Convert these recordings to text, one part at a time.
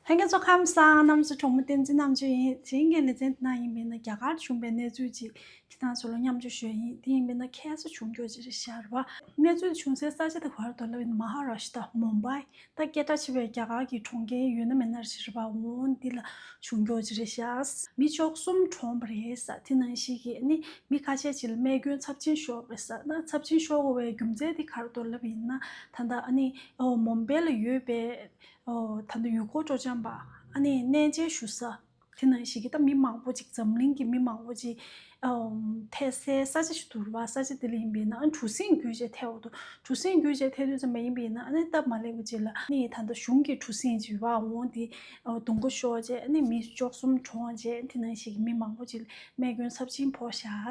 ལྷན་རྒྱས་ཚོགས་ཁང་ས་ཨ་རྣམ་སུ་གྲོགས་མོ་བསྟན་འཛིན་རྣམ་དཔྱོད་ཡིན་དེ་རིང་གི་ལེ་ཚན་འདི་ནང་ཡིན་པས་ན་རྒྱ་གར་བྱུང་པའི་གནས་ཚུལ་ཅིག་གི་སྟངས་སུ་ལོ་མཉམ་འཇུག་ཞོད་ཡིན་དེ་ཡིན་པས་ན་ཁྱད་གསོད་བྱུང་རྒྱུ་ཅི་རེད་ཤར་བ། གནས་ཚུལ་བྱུང་སའི་ས་ཆ་དེ་བར་དོ་ལ་ཡོད་ན་མ་ཧ་ར་ཤི་ཏྲ་མོམ་བྷའི་ད་སྐད་གྲགས་ཆེ་བའི་རྒྱ་གར་གྱི་གྲོང་ཁྱེར་ཡོད་ན་མེད་ན་ཤི་རེད་པ་འོང་འདི་ལ་བྱུང་རྒྱུ་ཅི་རེད་ཤར། མི་ཕྱོགས་གསུམ་གྲོངས་པ་རེད་ས་དེ་ནང་ཞིག་གིས་ནི་མི་ཁ་ཤས་ཅིག་ལ་རྨས་སྐྱོན་ཚབས་ཆེན་ཤོར་བས་ས་ན་ཚབས་ཆེན་ཤོར་བའི་རྒྱུ་མཚན་དེ་གར་དོ་ལ་ཡིན་ན་ད་ད་ཨ་ནི་མོམ་བྷའི་ལ་ཡོད་པའི་ད་དུང་ཡུལ་སྐོར་སྤྲོ་འཆམ་པ། ཨ་ནེ་གནས་མཇལ་ཞུ་ས། དེ་ནང་བཞིན་གྱི་ད་མི་མང་པོ་ཅིག་འཛམ་གླིང་གི་མི་མང་པོ་ཅིག་ཐད་སའི་ས་ཆ་ཞིག་ཏུ་རུ་བ་ས་ཆ་དེ་ལ་ཡིན་པས་ན་ཨ་གྲུ་གཟིངས་རྒྱུད་ཅེས་ཐད་འོག་ཏུ་གྲུ་གཟིངས་རྒྱུད་ཅེས་ཐད་དོད་ཙམ་པ་ཡིན་པས་ན་ཨ་ནེ་སྟབས་མ་ལེགས་པ་ཅིག་ལ་ཨ་ནེ་ད་ལྟ་གཞུང་གི་གྲུ་གཟིངས་ཅིག་རུ་བ་འོང་དེ་དུང་ཁོ་ཤོར་རྗེས་ཨ་ནེ་མི་ཅོག་གསུམ་གྲོངས་རྗེས་དེ་ནང་བཞིན་གྱི་མི་མང་པོ་ཅིག་རྨས་སྐྱོན་ཚབས་ཆེན་ཕོག་བཞག།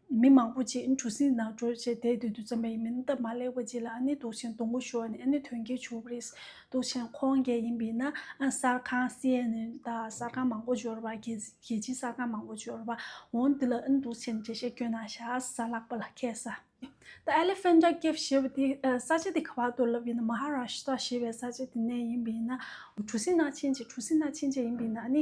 མི་མང་པོ་ཅིག་གྲུ་གཟིངས་ནང་བྲོས་བྱས་དེད་དུད་དུ་འཛོམས་པ་ཡིན་མིན་སྟབས་མ་ལེགས་པ་ཅིག་ལ་ཨ་ནེ་དུག་ཆེན་དུང་གོ་ཤོར་ནས་ཨ་ནེ་དོན་གྱིས་བྱུགས་པ་རེད། དུག་ཆེན་ཁོང་རྒྱལ་ཡིན་པས་ན་གསར་ཁང་སི་ཨེན་ཨེན་དང་གསར་ཁང་མང་པོ་འབྱོར་བ་རྒྱལ་སྤྱིའི་གསར་ཁང་མང་པོ་འབྱོར་བ་འོང་འདི་ལ་ཨ་ནེ་དུག་ཆེན་འདྲེ་ཞིག་བསྐྱོན་ན་ཤ་ཟ་ལག་པ་ལ་ཁད་ས་ཨེ། ཨེ་ལེ་ཕེན་ཏྲ་ཀེབ་ཞེས་པ་དེ་ས་ཆ་དེ་ག་བར་དུ་ལབ་ཡིན་ན་མ་ཧ་ར་ཤི་ཏྲ་ཞེས་པའི་ས་ཆ་དེ་ནས་ཡིན་པས་ན། གྲུ་གཟིངས་ནང་ཕྱིན་རྗེས་གྲུ་གཟིངས་ནང་ཕྱིན་རྗེས་ཡིན་པས་ན་ཨ་ནེ།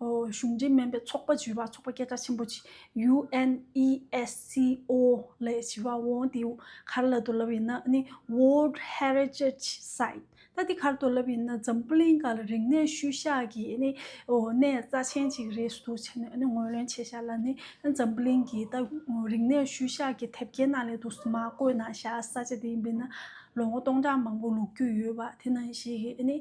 གཞུང་འབྲེལ་མིན་པའི་ཚོགས་པ་བརྗོད་པ་ཚོགས་པ་སྐད་གྲགས་ཆེན་པོ་ཆེ UNESCO ལས་བྱེད་པ་ཝོང་ཏི་ཝུ་གར་ལ་དོ་ལབ་ཡིན་ན World Heritage Site ལྟ་དེ་གར་དོ་ལབ་ཡིན་ན་འཛམ་གླིང་ག་ལ་རིག་གནས་ཤུལ་བཞག་གི་གནས་རྩ་ཆེན་གཅིག་རེད་ཟུར་དུ་བྱས་ནས་ངོས་ལེན་བྱས་བཞག་ལ་ནི་འཛམ་གླིང་གི་རིག་གནས་ཤུལ་བཞག་གི་དེབ་སྐྱེལ་ནང་ལས་དུ་མ་བཀོད་ན་བཞག་ས་ཆ་དེ་ཡིན་པས་ན། ལོ་ངོ་སྟོང་ཕྲག་མང་པོ་ལུག་ཁྱུ་ཡོད་པ་དེ་ནང་བཞིན་གྱི་ནི་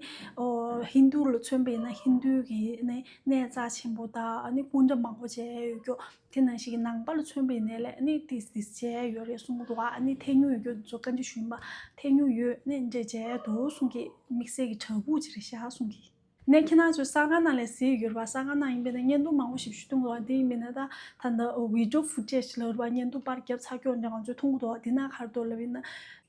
ཧིན་རྡུ་ལ་མཚོན་པའི་ན་ཧིན་རྡུའི་གི་ནི་ནས་རྩ་ཆེན་པོ་དང་ནི་སྐུ་འདྲ་མང་པོ་བྱས་ཡོད་རྒྱུ་དེ་ནང་བཞིན་གྱི་ནང་པ་ལ་མཚོན་པའི་ནས་ལས་ནི་ཏིས་ཏིས་བྱས་ཡོད་རེད་གསུངས་འདུག་བ་ནི་ཐེ་ཉུང་ཡོད་རྒྱུ་ཚོ་བཀའ་འདྲི་ཞུས་པ་ཐེ་ཉུང་ཡོད་ནི་འདྲེ་བྱས་འདུག་གསུངས་གི་དམིགས་བསལ་གྱི་བྲག་ཕུག་ཅིག་རེད་བཞག་གསུངས་གི། ནས་ཁྱེད་རྣམས་ཚོས་ས་གང་ན་ལས་ཟེར་ཡོད་རེད་བ་ས་གང་ན་ཡིན་པའི་ནས་བརྙན་ཐུང་མང་པོ་ཞིག་ཞུས་འདུག་ལོ་དེ་ཡིན་པའི་ནས་ད་ད་ནས Video Footage ལ་རེད་བ་བརྙན་ཐུང་པར་རྒྱབ་ཚགས་ཀྱོག་འདྲ་གང་ཚོད་འཐུང་གི་འདུག་དེ་ནས་ཁར་དོ་ལ་བའི་ནས་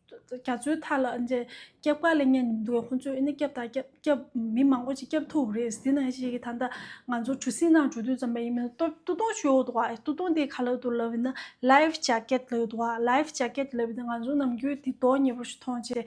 རྒྱ་མཚོའི་མཐའ་ལ་འདྲ་སྐྱབས་དཀའ་ལས་ངན་ཉུང་འདུག་བས་ཁོང་ཚོས་ཨེ་ནས་སྐྱབས་དང་སྐྱབས་སྐྱབས་མི་མང་པོ་ཅིག་སྐྱབས་ཐུབ་རེད་དེ་ནས་ཞིག་གིས་ད་ད་ང་ཚོ་གྲུ་གཟིངས་ནང་གྲུ་དུས་ཙམ་པ་ཡིན་པའི་ནས་ཏོ་ཏོ་ཏོ་ཞུས་འོག་འདུག་བ་ཨེ་ཏོ་ཏོ་འདི་ག་ལ་དོ་ལ་བའི་ནས Life Jacket ལ་ཡོད་འདུག་བ Life Jacket ལ་བའི་ནས་ང་ཚོ་ནམ་རྒྱུན་དེ་དོ་ཉེ་པོ་ཞིག་མཐོང་བྱས།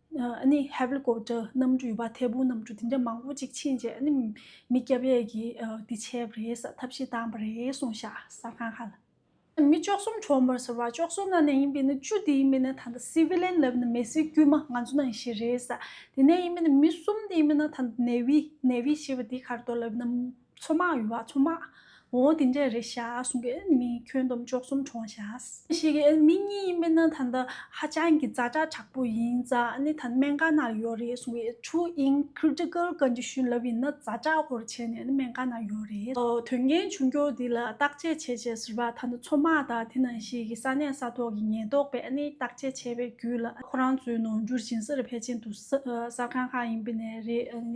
ནི་ཧེབ་ལི་ཀོབ་ཏར་གནམ་གྲུ་ཡོད་པ་ཐེ་བུ་གནམ་གྲུ་དེ་འདྲ་མང་པོ་གཅིག་ཕྱིན་རྗེས་ནི་མི་སྐྱ་བྷས་ཀྱི་དེ་བྱས་པ་རེད་ས་ཐབས་ཤེས་བཏང་བ་རེད་གསུངས་ཤག་གསར་ཁང་ཧ་ལ། མི་བཅོ་གསུམ་གྲོངས་པར་ཟེར་བ་བཅོ་གསུམ་ན་ནས་ཡིན་པས་ནི་བཅུ་དེ་ཡིན་པས་ནི་ད་ལྟ་སི་བི་ལེན་ལབ་ནི་མེད་སི་དཀྱུས་མ་ང་ཚོ་ནང་བཞིན་རེད་ས་དེ་ནས་ཡིན་པས་ནི་མི་གསུམ་དེ་ཡིན་པས་ན་ད་ནེ་བི Navy ཞེས་པ་དེ་གར་དོ་ལབ་ནམ། མཚོ་དམག་ཡུལ་བ་མཚོ་དམག། འོ་དེ་འདྲས་རེད་ཤག་གསུང་གི་ཨེ་མི་ཁྱོད་འདོམ་ཅོག་གསུམ་བྲོང་ཤག། ཤེས་གི་ཨེ་མི་གཉིས་ཡིན་པས་ན་ད་ལྟ་ཧ་ཅང་གི་རྫ་དྲག་དྲག་པོ་ཡིན་རྫ་ནི་ད་སྨན་ཁང་ནང་ཡོད་རེད་གསུང་གི་ཆུ་ཨིན Critical Condition ལབ་ཡིན་ན་རྫ་དྲག་ཧོར་བྱས་ནས་ནི་སྨན་ཁང་ནང་ཡོད་རེད། དོན་རྐྱེན་བྱུང་རྒྱུ་དེ་ལ་བརྟག་དཔྱད་བྱེད་ཅེས་ཟེར་བ་ད་ལྟ་མཚོ་དམག་དང་དེ་ནང་བཞིན་གྱི་ས་གནས་ས་ཐོག་གི་ཉེན་རྟོག་པས་ནི་བརྟག་དཔྱད་བྱས་པའི་བརྒྱུད་ལ་ཁོ་རང་ཚོའི་ནང་འགྱུར་ཞིང་སར་ཕལ་ཆེན་དུ་གསར་ཁང་ཁག་ཡིན་པས་ནས་རེད།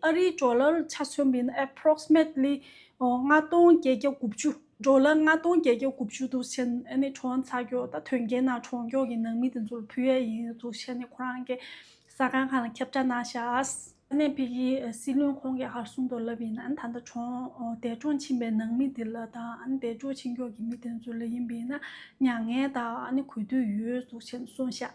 ཨ་རིའི་འབྲོག་ལར་ཆ་མཚོན་མིན Approximately ལྔ་སྟོང་བརྒྱད་བརྒྱ་དགུ་བཅུ། འབྲོག་ལར་ལྔ་སྟོང་བརྒྱད་བརྒྱ་དགུ་བཅུ་འདུག་བྱས་ནས་གྲོང་ཚ་འགྱོག་དང་དོན་རྐྱེན་ནང་གྲོང་འགྱོག་གི་ནང་མི་དེ་ཚོར་ཕུལ་ཡས་ཡིན་འདུག་བྱས་ནས་ཁོ་རང་གི་ས་ཁང་ཁང་ལ་ཁྱབ་བསྒྲགས་གནང་ཤག། གནས་འཕེལ་གྱི་སྲིད་བློན་ཁོང་གིས་ཧར་གསུངས་དོགས་ལབ་ཡིན་ན་ད་ལྟ་གྲོང་འདས་གྲོང་ཕྱིན་པའི་ནང་མི་དེ་ལ་དང་འདས་གྲོང་ཕྱིན་འགྱོག་གི་མི་དེ་ཚོ་ལ་ཡིན་པས་ན་མྱ་ངན་དང་གུས་འདུད་ཡོད་འདུག་བྱས་ནས་གསུངས་ཤག།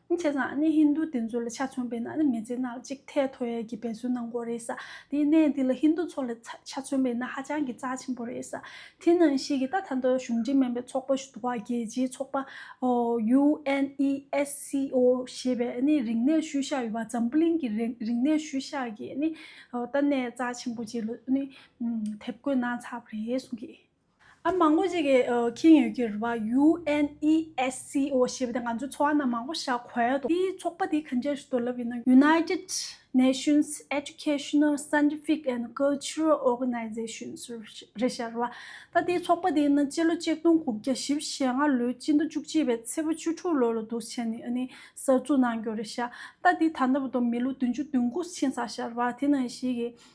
ནི་བྱས་ཙང་ནི་ཧིན་རྡུ་དེ་ཚོ་ལ་ཆ་མཚོན་པའི་ནང་ནས་མི་ཚེ་སྣ་ལ་གཅིག་ཐལ་མཐོ་ཡས་ཀྱི་འབད་བརྩོན་གནང་དགོས་རེད་ས་དེའི་གནད་འདི་ལ་ཧིན་རྡུ་ཚོ་ལ་ཆ་མཚོན་པའི་ནང་ཧ་ཅང་གི་རྩ་ཆེན་པོ་རེད་ས་དེ་ནང་ཞིག་གི་ད་ད་ལྟ་གཞུང་འབྲེལ་མིན་པའི་ཚོགས་པ་ཞུ་བ་རྒྱལ་སྤྱིའི་ཚོགས་པ UNESCO ཞེས་པའི་ནི་རིག་གནས་ཤུལ་བཞག་ཡོད་པ་འཛམ་བུ་གླིང་གི་རིག་གནས་ཤུལ་བཞག་གི་ནི་ད་གནད་རྩ་ཆེན་པོ་ཅིག་ལ་ནི་དེབ་བཀོད་གནང་ཚར་བ་རེད་གསུངས་ཀྱི། ཨ་མང་པོ་ཞིག་གིས་ཁེངས་ཡོད་ཀྱི་རེད་བ། UNESCO ཞེས་པ་དེ་ང་ཚོའི་ཚོགས་ཁང་ནང་མང་པོ་བཞག་གོ་ཡ་དོ། དེའི་ཚོགས་པ་དེ་གང་ཆེར་ཞིག་དོར་ལབ་ཡོད་ན། United Nations Educational Scientific and Cultural Organization རེད་ཤག་རེད་བ། ད་དེའི་ཚོགས་པ་དེའི་ནང་སྤྱི་ལོ་གཅིག་སྟོང་དགུ་བརྒྱ་བཞི་བཞི་ལྔ་ལོའི་སྤྱི་ཟླ་བཅུ་གཅིག་པའི་ཚེས་པ་བཅུ་དྲུག་ལོ་ལ་འདུག་བྱས་ནས་ཨ་ནི་གསར་བཙུགས་གནང་རྒྱུ་རེད་ཤག། ད་དེ་ད་ལྟ་བ་དང་མི་ལོ་བདུན་ཅུ་བདུན་དགུ་ཕྱིན་ས་ཤག་རེད་བ། དེ་ནང་བཞིན་གྱི་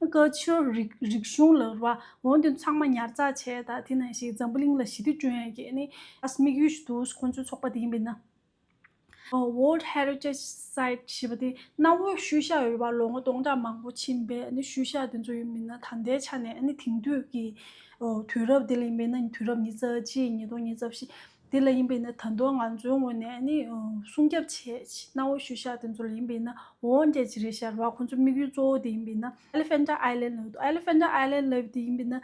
བཀའ་ཆོས་རིག་གཞུང་ལ་རུ་བ་འོང་དུས་ཚང་མ་ཉར་ཚགས་བྱས་དང་དེ་ནང་བཞིན་འཛམ་བུ་གླིང་ལ་ཞི་བདེ་བསྐྲུན་ཡག་གི་ནི་ཨས་དམིགས་ཡུལ་ཞིག་འདུག་ཁོང་ཚོའི་ཚོགས་པ་དེ་ཡིན་པས་ན། World Heritage Site ཞེས་པ་དེ་གནའ་བོའི་ཤུལ་བཞག་ཡོད་པ་ལོ་ངོ་སྟོང་ཕྲག་མང་པོ་ཕྱིན་པའི་ཤུལ་བཞག་དེ་ཚོ་ཡིན་པས་ན་ད་ལྟའི་ཆ་ནས་དེང་དུས་ཀྱི་དུས་རབས་དེ་ལ་ཡིན་པས་ན་དུས་རབས་ཉིས་བརྩེགས་གཅིག་ཉིས་སྟོང་ཉིས་བརྩེགས་བཞི་དེ་ལ་ཡིན་པས་ན་ད་དུང་ང་ཚོའི་ངོས་ནས་སྲུང་སྐྱབས་ཆེད་གནང་བའི་ཤུལ་བཞག་དེ་ཚོ་ལ་ཡིན་པས་ན་འོང་རྒྱ་ཇི་རིགས་ཤར་བ་ཁོང་ཚོའི་དམིགས་ཡུལ་གཙོ་བོ་དེ་ཡིན་པས་ན Elephant Island ལབ་འདུག Elephant Island ལབ་པ་དེ་ཡིན་པས་ན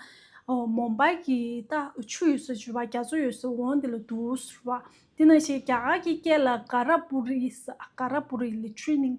Mumbai གི་ད་ཆུ་ཡོད་ས་ཆུ་བ་རྒྱ་མཚོ་ཡོད་ས་འོང་དེ་ལ་འདུག་ཟེར་བ། དེ་ནང་བཞིན་རྒྱ་གར་གྱི་སྐད་ལ Karapuri ཟེར Karapuri ལས Training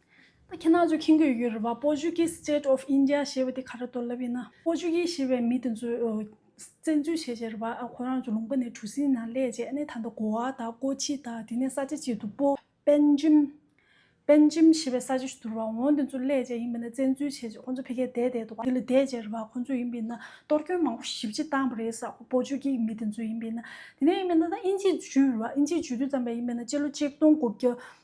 ད་ཁྱེད་ནག་ཆུ་ཁྱིམ་གྱི་ཡུལ་རེད་བ Portuguese state of India ཞེས་པ་དེ་ག་རེ་གཏོར་ལབ་ཡིན་ན Portuguese ཞེས་པའི་མི་དེ་ཚོས་བཙན་འཛུལ་བྱས་བྱས་རེད་བ་ཁོ་རང་ཚོ་ལུང་པ་ནས་གྲུ་སིང་ན་སླས་བྱས་ཨ་ནས་ད་ལྟ་གོ་བ་དང་ཀོ་ཆི་དང་དེ་ནས་ས་ཆ་གཅིག་ཏུ་པོ་པན་ཇིམ། Benjim། ཞེས་པའི་ས་ཆ་ཞིག་ཏུ་རེད་བ་འོང་དེ་ཚོ་སླས་བྱས་ཡིན་པ་ནས་བཙན་འཛུལ་བྱས་བྱས་ཁོ་ཚོ་ཕེ་ཁའི་བསྡད་བསྡད་འདུག་བ་དེ་ལ་བསྡད་བསྡད་རེད་བ་ཁོ་ཚོ་ཡིན་པས་ན་གཏོར་སྐྱོན་མང་པོ་ཞིབ་ཅིག་བཏང་བ་རེད་ས Portuguese མི་དེ་ཚོས་ཡིན་པས་ན་དེ་ནས་ཡིན་པས་ན་ད་ཨིན་ཇིས་འཇུས་རེད་བ་ཨིན་ཇིས་འཇུས་དུས་ཙམ་པས་ཡིན་པས་ན་སྤྱི་ལོ་ཆིག་སྟོང་དགུ་བརྒྱ་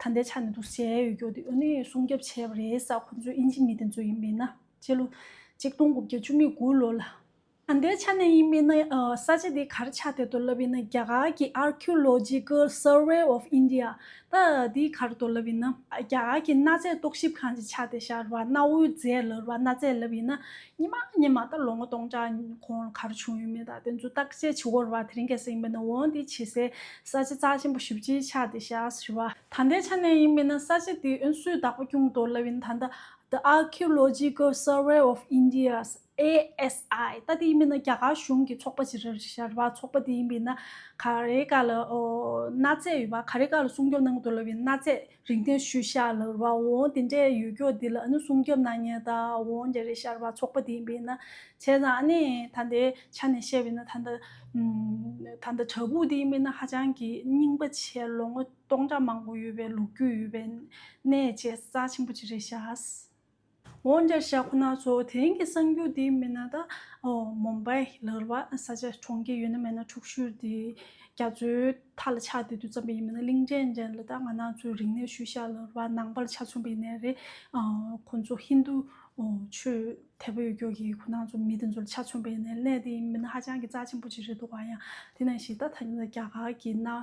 ད་ལྟའི་ཆ་ནས་འདུ་སའི་ཡུལ་སྐྱོར་དེ་ཨོ་ནི་སྲུང་སྐྱོབ་བྱས་པ་རེད་ས་ཁོང་ཚོས་ཨིན་ཇི་མི་དེ་ཚོ་ཡིན་མིན་ན་སྤྱི་ལོ་གཅིག་སྟོང་དགུ་བརྒྱ་བཅུ་གཉིས་དགུ་ལོ་ལ། ད་ལྟའི་ཆ་ནས་ཡིན་མིན་ན་ས་ཆ་དེ་གར་ཆགས་དེ་དོར་ལབ་ཡིན་ན་རྒྱ་གར་གྱི Archaeological Survey of India ད་དེ་གར་དོར་ལབ་ཡིན་ན། རྒྱ་གར་གྱི་གནའ་རྫས་རྟོག་ཞིབ་ཁང་གི་ཆ་དེ་ཤར་བ་གནའ་བོའི་རྫས་ལབ་ར་གནའ་རྫས་ལབ་ཡིན་ན་ཉི་མ་ཉི་མ་ལྟར་ལོ་ངོ་སྟོང་ཕྲག་གོང་ལ་གར་བྱུང་ཡོད་མེད་དང་དེ་ཚོའི་བརྟག་དཔྱད་བྱེད་སྒོར་བ་དེ་རིང་གལ་སྲིད་ཡིན་པ་ན་འོན་ཏེ་བྱེད་སའི་ས་བྱི་རྩ་ཆེན་པོ་བཞི་བརྗེ་ཆ་དེ་བཞག་ཞུ་བ། ད་ལྟའི་ཆ་ནས་ཡིན་མིན་ན་ས་བྱི་དེའི་ཨུན་སུའི་བདག་པོ་སྐྱུང་དོ་ལ་བིན་ད་ལྟ The Archaeological Survey of India། ASI། ལྟ་དེ་ཡིན་མིན་ན་རྒྱ་གར་གཞུང་གི་ཚོགས་པ་བྱི་ར་ཞར་བ་ཚོགས་པ་དེ་ཡིན་པས་ན་ག་རེ་ག་ལ་གནའ་རྫས་ཡོད་པ་ག་རེ་ག་ལ་སྲུང་སྐྱོབ་གནང་དོ་ལ་བིན་གནའ་རྫས་རིག་གནས་ཤུལ་བཞག་ལ་རུ་བ་འོང་དེ་འདྲའི་ཡུལ་སྐྱོག་འདི་ལ་ཨ་ནུ་སྲུང་སྐྱོབ་གནང་ཉེན་ད་འོང་རྒྱ་རི་ཤར་བ་ཚོགས་པ་དེ་ཡིན་པས་ན་བྱས་ཙང་ཨ་ནེ་ད་ལྟའི་ཆ་ནས་བཤད་པས་ན་ད་ད་ད་དྲ་འབུ་དེ་ཡིན་པས་ན་ཧ་ཅང་གི་རྙིང་པ་ཆེ་ལོ་ངོ་སྟོང་ཕྲག་མང་པོ་ཡོད་པའི་ལུགས་རྒྱུས་ཡོད་པའི་གནས་བཅས་རྩ་ཆེན་པོ་གཅིག་རེད་ཤགས། འོན་ཀྱང་ཞྭ་ཁོ་ན་ཚོ་དེང་གི་གསར་འགྱུར་འདི་མིན་ན་ད་མུམ་བཱི་ལར་བ་ས་ཆ་གྲོང་ཁྱེར་ཡོད་ན་མེད་ན་འཁྲུག་ཤུལ་འདི་རྒྱ་མཚོའི་མཐའ་ལ་ཆགས་བསྡད་དུས་ཙམ་པ་ཡིན་མིན་ན་གླིང་ཕྲན་ཅན་ལ་ད་ང་ནང་ཚོའི་རིག་གནས་ཤུལ་ཞྭ་ལར་བ་ནང་པར་ཆ་མཚོན་པ་ཡིན་ནའི་རེད་ཁོ་ཚོ་ཧིན་རྡུ་ཆོས་དད་པ་ཡོད་ཀྱོག་གིས་ཁོ་ནང་ཚོ་མི་དེ་ཚོ་ལ་ཆ་མཚོན་པ་ཡིན་ནའི་གནས་དེ་ཡིན་མིན་ན་ཧ་ཅང་གི་རྩ་ཆེན་པོ་ཅིག་རེད་འདུག་བ་ཡང་དེ་ནང་བཞིན་ད་ཐ་སྙད་ལ་རྒྱ་གར་གྱི་གནའ་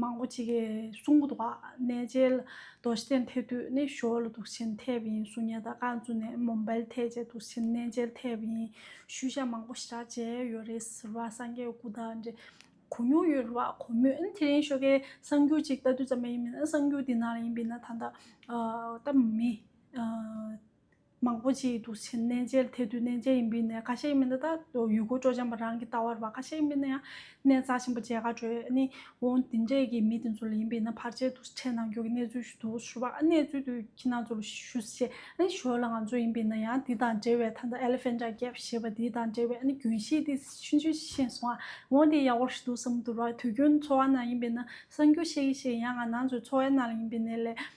མང་པོ་ཅིག་གིས་གསུང་གི་འདུག་ག་གནས་མཇལ་དོགས་གཞི་ཅན་ཐེབས་དུས་ནི་ཞོར་ལ་དུག་ཆེན་ཐེབས་ཡིན་གསུང་ཉེ་དགའ་བཀའ་བཙུན་ནས་མོ་འབལ་ཐེག་བཅས་དུག་ཆེན་གནས་མཇལ་ཐེབས་ཡིན་ཤུལ་བཞག་མང་པོ་ཞི་དྲག་བྱས་ཡོད་རེད་ཟེར་བ་སངས་རྒྱས་སྐུ་དང་འབྲེལ་གོ་མྱོང་ཡོད་རེད་བ་གོ་མོད་ཨན་དེ་རིང་ཤོ་ཀའི་གསང་རྒྱུད་ཅིག་ལྟ་དུས་ཙམ་ལས་ཡིན་མིན་ཨན་གསང་རྒྱུད་འདི་ནང་ལ་ཡིན་པའི་ན་ད་ལྟ་ལྟ་མི། མང་པོ་ཞིག་འདུག་ཕྱིན་གནས་མཇལ་དེ་དུས་གནས་མཇལ་ཡིན་པའི་གནས་ཁ་ཤས་ཡིན་པ་འདི་དག་ཡུལ་སྐོར་སྤྲོ་འཆམ་པ་རང་གི་ལྟ་བར་བ་ཁ་ཤས་ཡིན་པས་ན་ཡང་གནས་རྩ་ཆེན་པོ་མཇལ་ཁ་གྲོལ་ཨ་ནི་འོང་དེ་འདྲས་ཀྱི་མི་དེ་ཚོ་ལ་ཡིན་པས་ན་ཕར་ཆེར་དུ་ཕྲད་གནང་རྒྱུ་གི་གནས་ཚུལ་ཞུ་དུ་ཞུ་བ་ཨ་གནས་ཚུལ་དུ་ཁྱི་ནང་ཚོ་ལ་ཞུ་ཞེས་ཨ་ནི་ཞོར་ལ་ང་ཚོ་ཡིན་པས་ན་ཡང་འདི་དང་འབྲེལ་བའི་ཐ་ན Elephanta Cave ཞེས་པ་འདི་དང་འབྲེལ་བའི་ཨ་ནི་རྒྱུན་ཤེས་དེ་ཤིན་ཅུ་ཤེས་སོང་ཨ་འོང་དེ་ཡག་པོ་རེད་འདུག་བསམ་དུ་ར་དུས་རྒྱུན་འཚོ་བ་ན་ཡིན་པས་ན་གསང་རྒྱུ་ཤེས་ཀྱི་ཤེས་ཡང་ང་ནང་ཚོའི་འཚོ་བའི་ནང་ལ་ཡིན་པས་ནས་ལས